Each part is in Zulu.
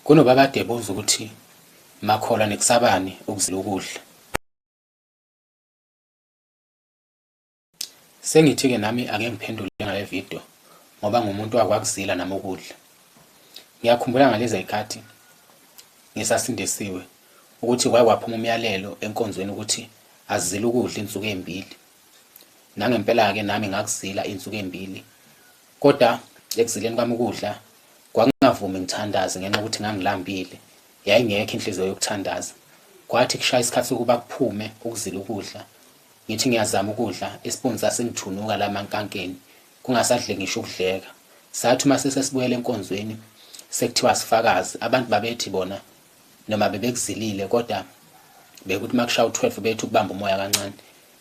Kunoba kade ebuza ukuthi makholwa nikusabani ukuzila ukudla. Sengithi-ke nami ake ngiphendule ngale video ngoba ngumuntu wakwakuzila nami ukudla. Ngiyakhumbula ngalezi zikhathi ngisasindisiwe ukuthi kwake kwaphuma umyalelo enkonzweni ukuthi azile ukudla insuku ezimbili. Nangempela-ke nami ngakuzila insuku ezimbili Kodwa ekuzileni kwami ukudla kwakungavumi ngithandaze ngenxa yokuthi ngangilambile, yayingekho inhliziyo yokuthandaza. Kwathi kushaya isikhathi sokuba kuphume ukuzila ukudla, ngithi ngiyazama ukudla, isipuni sasingithunuka la mankankeni, kungasadleki ngisho ukudleka. Sathi uma sesesibuyela enkonzweni sekuthiwa sifakazi, abantu babethi bona noma bebekuzilile kodwa bekuthi uma kushaya u-12 bethi ukubamba umoya kancane.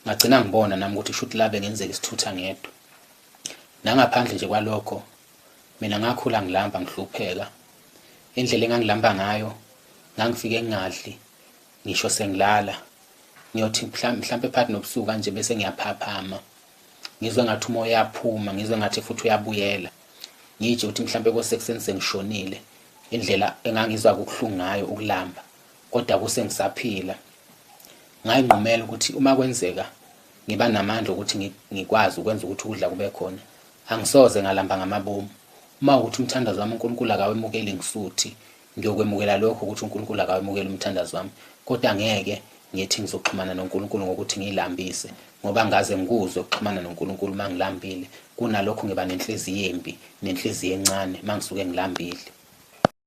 Ngagcina ngibona nami ukuthi kusho ukuthi labe ngenzeka isithutha ngedwa. Nangaphandle nje kwalokho, mina ngakhula ngilamba ngihlupheka. Indlela engangilamba ngayo, ngangifike ngingadli, ngisho sengilala. Ngiyothi mhlampe phakathi nobusuku kanje bese ngiyaphaphama. Ngizwe ngathi umoya uyaphuma, ngizwe ngathi futhi uyabuyela. Ngitshe ukuthi mhlampe kosekuseni sengishonile. Indlela engangizwa kubuhlungu ngayo ukulamba, kodwa kuse ngisaphila. Ngayinqumela ukuthi uma kwenzeka Ngiba namandla okuthi ngikwazi ukwenza ukuthi ukudla kube khona. Angisoze ngalamba ngamabomu. Uma ukuthi umthandazo wami uNkulunkulu akawemukeli ngisuthi ngiyokwemukela lokho ukuthi uNkulunkulu akawemukeli umthandazo wami. Kodwa ngeke ngithi ngizoxhumana noNkulunkulu ngokuthi ngilambise ngoba ngaze ngikuzwe ukuxhumana noNkulunkulu uma ngilambile kunalokho ngiba nenhliziyo embi nenhliziyo encane uma ngisuke ngilambile